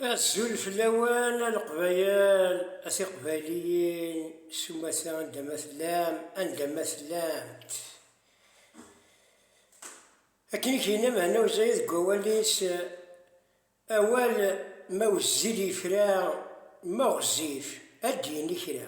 Azul fell-awen a Leqbayel, a Tiqbayliyin, s umata anda ma tellam, anda ma tellamt. Akken i k-yenna Mhenna Uzayed deg wawal-is, awal ma wezzil yefra, ma ɣezzif ad d-yini kra.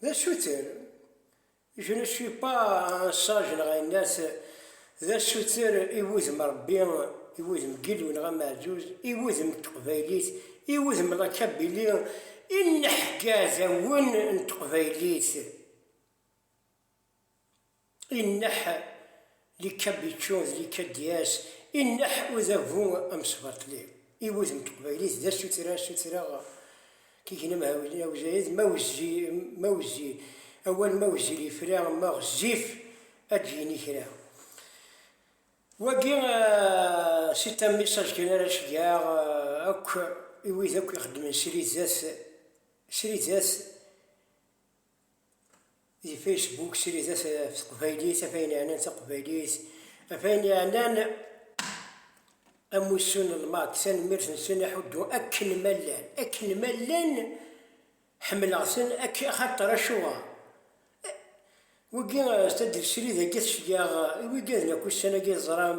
D asuter. Je ne suis pas un sage neɣ yenna-t, d asuter i wudem Rebbi, i wudem Gilou neɣ Ameɛjuz, i wudem n teqbaylit, i wudem la Kabylie, i nneḥgadawen n teqbaylit. Inneḥ Likabiccu d Likadyas, inneḥ udabu amesbaṭli i wudem n teqbaylit d asuttra, sutreɣ tigna mhawilin a uzayed, ma wezzi, ma wezzi, awal ma wezzil yefra, ma ɣezzif ad d-yini kra. Wagi si tam message kan ara ceggɛeɣ akk i wid akk ixeddmen sridat, sridat, di Facebook sridet ɣef teqbaylit af ayen yeɛnan taqbaylit af ayen yeɛnan amussu n lmak tanemmirt n sin aḥuddu akken ma llan akken ma llan ḥemmleɣ-ten akken axaṭer acuɣer wigi tadelsri dagi tecgaɣ i wigi ad nak ussan-agi teẓram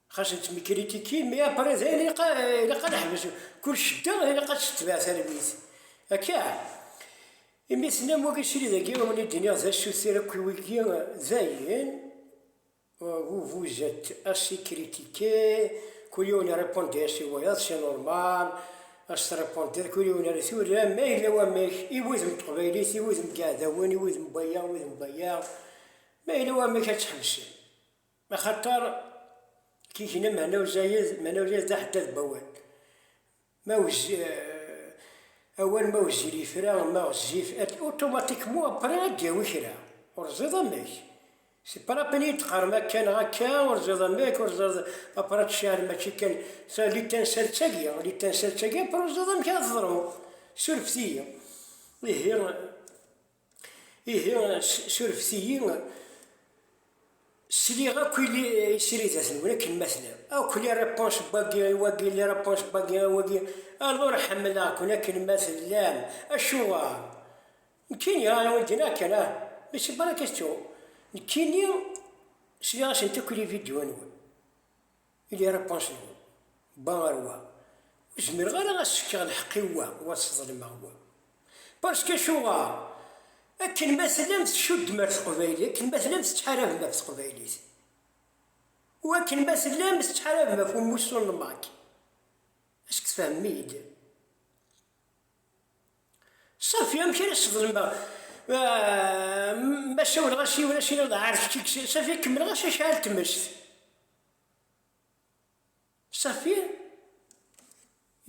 Xas d tmikritikin, mais après dayen ilaq ilaq ad neḥbes, kul cedda ilaq ad tetbeɛ tallit, akka? Imi tennam wagi srid agi i wen-id-nniɣ d asuter akk i wigi, dayen vous vous êtes assez critiqué, kul yiwen irepondit as i wayeḍ, c'est normal, ad s-trepondid kul yiwen ar tura, ma yella wamek, i wudem n teqbaylit, i wudem n yiɛdawen, i wudem n waya, i wudem n waya, ma yella wamek ad tḥebsem. Axaṭer tigna meɛna uzayez, meɛna uzayez d aḥeddad n wawal. Ma wezzil, awal ma wezzil yefra, ma ɣezzif, automatiquement après ad d-yawi kra. Ur teẓẓiḍ amek. C'est pas la peine iyi-d teqqarem akka neɣ akka, ur teẓẓiḍ amek, ur teẓẓiḍ après tcehhed mačči kan ta l'étincelle d tagi, l'étincelle d tagi après ur teẓẓiḍ amek ara teḍru. Surfet-iyi. Ihi. Ihi surfet-iyi, sliɣ akk i sridat-nwen akken ma tellam, akk les réponses n wagi i wagi, les réponses n wagi i wagi, alors ḥemmleɣ-ken akken ma tellam. Acuɣer? Nekkini, ah, i wen-d-yenna akken, ah, mais c'est pas la question. Nekkini, sliɣ-asent akk i les vidéos-nwen. Il est repenché, Bon ar wa, ur zmireɣ ara ad s-fkeɣ lḥeqq i wa u ad sḍelmeɣ wa. Parce que acuɣer? Akken ma tellam tcuddem ar teqbaylit, akken ma tellam tettḥarabem ɣef teqbaylit u akken ma tellam tettḥarabem ɣef umussu n Mac, est-ce que tfehmem-iyi-d? Safi, amek ara sḍelmeɣ ma sawleɣ-as i yiwen, as-iniɣ d ɛar kečč i yesɛan, safi kemmleɣ-as acḥal tmest. Safi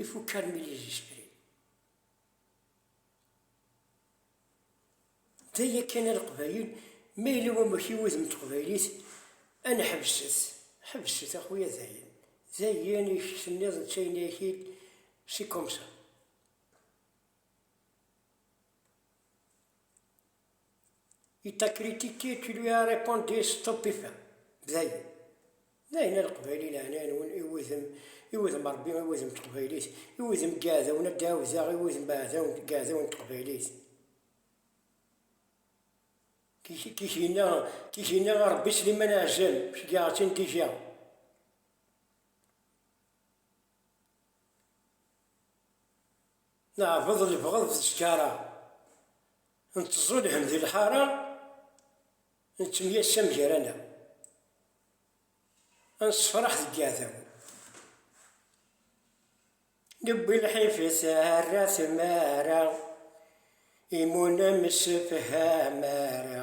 ifukal n yizisfri. D aya kan a Leqbayel, ma yella wamek i wudem n teqbaylit, ad neḥbes-t, ḥbes-t a xuya dayen, dayen i k-tenniḍ netta yenna-ak-id, c'est comme ça. I t'a critiqué, tu lui as répondu stupéfait, dayen. Dayen a Leqbayli leɛnaya-nwen i wudem, i wudem Rebbi, i wudem n teqbaylit, i wudem n yiɛdawen ad d-ɛawdeɣ i wudem n yiɛdawen n teqbaylit. Kikina a Rebbi Sliman Ɛezzam, ceggɛeɣ-k-in déjà. Neɛbeḍ lebɣeḍ d ttjaṛa. Nettẓulhem di lḥara, nettemyassam gar-aneɣ, ad nessefraḥ deg yiɛdawen. Newwi lḥif i tarra tmara, imi ur nemsefham ara.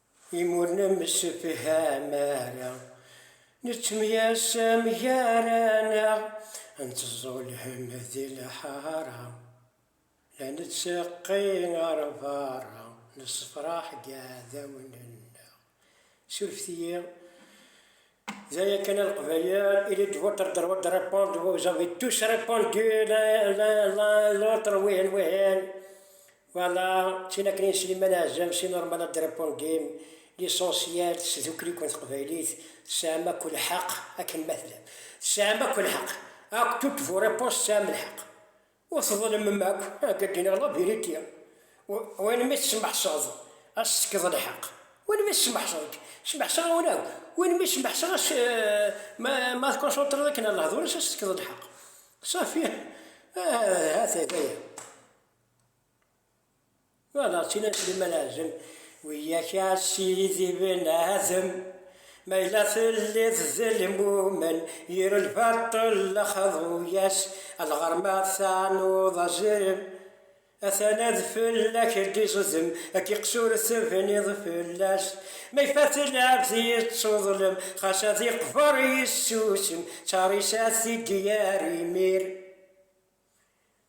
Imi ur nemsefham ara, nettemyasam gar-aneɣ, nettẓulhem di lḥara, la netteqqi ɣer berra, nessefraḥ deg yiɛdawen-nneɣ. Surfet-iyi, d aya kan a Leqbayel, il est de votre droit de répondre, vous avez tous répondu l'un l'autre wihin wihin. Wala, d tin akken i Sliman Ɛezzam si Normal ad d-répondem, l'essentiel s tdukli-ken teqbaylit tesɛam akk lḥeq akken ma tellam. Tesɛam akk lḥeq, akk toutes vos réponses tesɛam lḥeq. Ur tḍelmem akk, akka d-yenna la vérité. Win mi tesmeḥseḍ ad s-tefkeḍ lḥeq, win mi smeḥseɣ-k, smeḥseɣ-awen akk, win mi smeḥseɣ ad s, ma tkonṣuntreḍ akken ar lehdur-is ad s-tefkeḍ lḥeq. Safi, ha-t-a, d aya. Ma d aɣ-tt-in a Sliman Azem, wiyak a ssirid Ibn Adem, ma yella telliḍ d lmumen, yir lbaṭel xḍu-yas, alɣer ma tanuḍ azrem, atan ad fell-ak d-iẓdem, ad k-iqsur tebniḍ fell-as, ma ifat lɛebd yettuḍlem, xas ad iqber yessusem, d tarisat i d-yerr imir.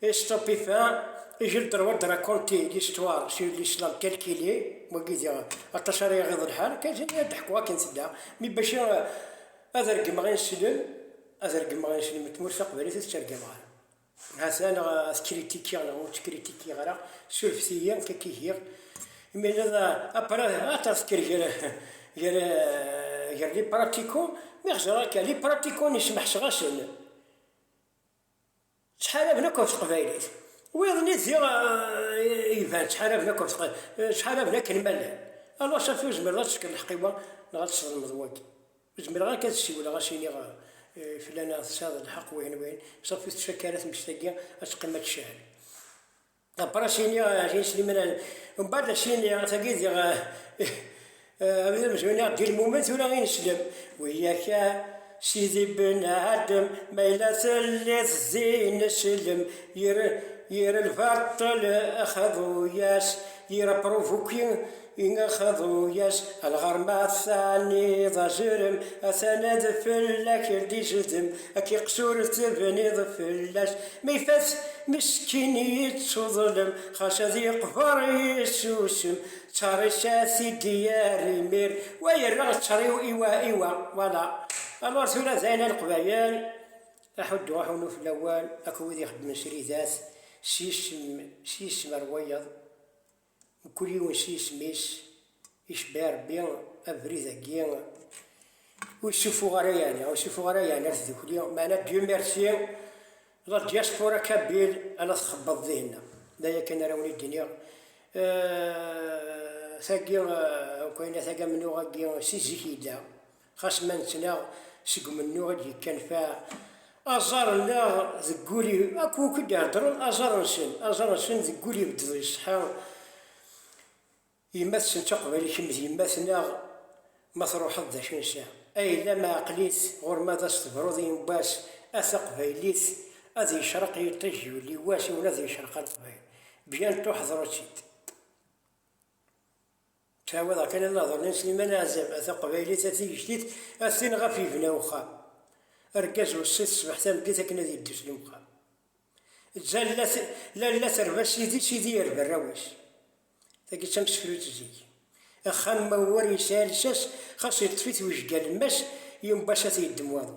Estopifin, ijel droit de raconter l'histoire sur l'islam tel qu'il est, wagi diɣ aṭas ara yaɣiḍ lḥal, kan tini ad ḥkuɣ akken tedda, mi bac ad regmeɣ ineslem, ad regmeɣ ineslem n tmurt taqbaylit ad tettergam ɣer. Hata neɣ ad kritikiɣ neɣ ur tkritikiɣ ara, surfet-iyi amek akka giɣ. Imi ad apara ad tesker gar gar gar li pratiko, mi ɣzeɣ akka li pratiko nismeḥseɣ-asen. Ttḥaraben akk ɣef teqbaylit. Wiyaḍ nni diɣ iban ttḥaraben akk ɣef teqbaylit, ttḥaraben akken ma llan. Alors safi ur zmireḍ ad tesker lḥeq i wa neɣ ad tesḍelmeḍ wagi. Ur zmireɣ akka ad ssiwleɣ ad s-iniɣ fell-aneɣ tesɛiḍ lḥeq wihin wihin, safi ur tettfakka ara tmes-agi ad teqqim ad tcehhed. Abrasini Ɛli Slimran mbaɛd asini tagi diɣ abrid amezwaru neɣ Dil Mumen tura i neslem Wiyak a Sidi Ben Adem ma yella telliḍ din slem Yir lbaṭel axabu-yas yir aprovoki Ineɣ-d uyas a lɣar ma tɛanniḍ azrem atan ad fell-ak d-izdem ad k-iqsur tebniḍ fell-as ma ifat meskin yettuḍlem xas ad yeqber yessusem ttarisat i d-yerr imir wa yerreɣ ttariw i wa i wa voilà alors tura dayen a leqbayel aḥuddu aḥunu fell-awen akk wid ixeddmen sridat s yisem s yisem ar wayeḍ. Mkul yiwen s yisem-is, icebbeɛ Rebbi abrid-agi, ur yessuffuɣ ara yeɛni, ur yessuffuɣ ara yeɛni ar tdukli, meɛna Dieu merci, la diaspora kabyle a la txebbeḍ dihin-a, d aya kan ara wen-id-iniɣ, tagi, ukayna tagam-nneɣ-agi si zik yella. Xas ma nettnaɣ seg umennuɣ i d-yekkanfaɛ aẓar-nneɣ deg wul i, akk wakk i d-iheddren aẓar-nsen, aẓar-nsen deg wul ibeddeḍ iṣeḥḥa, yemma-tsen d taqbaylit kemm d yemma-tneɣ, ma truḥeḍ d acu nesɛa, a yella ma aql-it ɣur ma ad as-tebruḍ i yemma-s a taqbaylit ad yecreq yiṭij yuli wass i wen ad yecreq a leqbayel, bientôt ḥḍru-tt-id. Ttawiḍ kan anaḍru n Sliman Ɛzem, a taqbaylit a tigejdit, a tin ɣef yebna uxxam. Argaz weṣṣit ṣbeḥ tameddit akken ad yeddu s lemqam. Zzallat, lalla terba sidi, sidi yerba arraw-is. Tagi d tamsekrutt zik. Axxam ma uwar yesɛa lsas, xas yeṭṭef-it wejgal, mass yumbass a t-yeddem waḍu.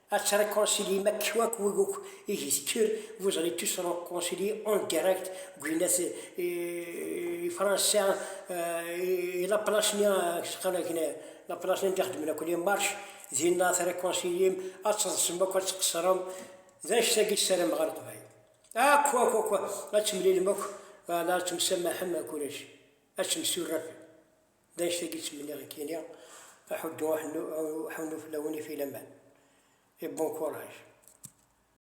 Ad tret conseiller ma kua ku guk i gisker, vous allez tous re conseiller en direct deg uyennat i Fransa i la place-nni seqqan akken la place-nni anda i xeddmen akk les marches, dinna ad tret conseiller-m, ad teḍsem akk ad tqeṣrem, d annect-agi i ssarameɣ a Leqbayel. Akk akk akk ad temlilem akk, ad temsamaḥem akk ulac, ad temsurafem. D anect-agi ttmenniɣ i k-iniɣ, aḥuddu aḥunnu fell-awen i filaman, et bon courage.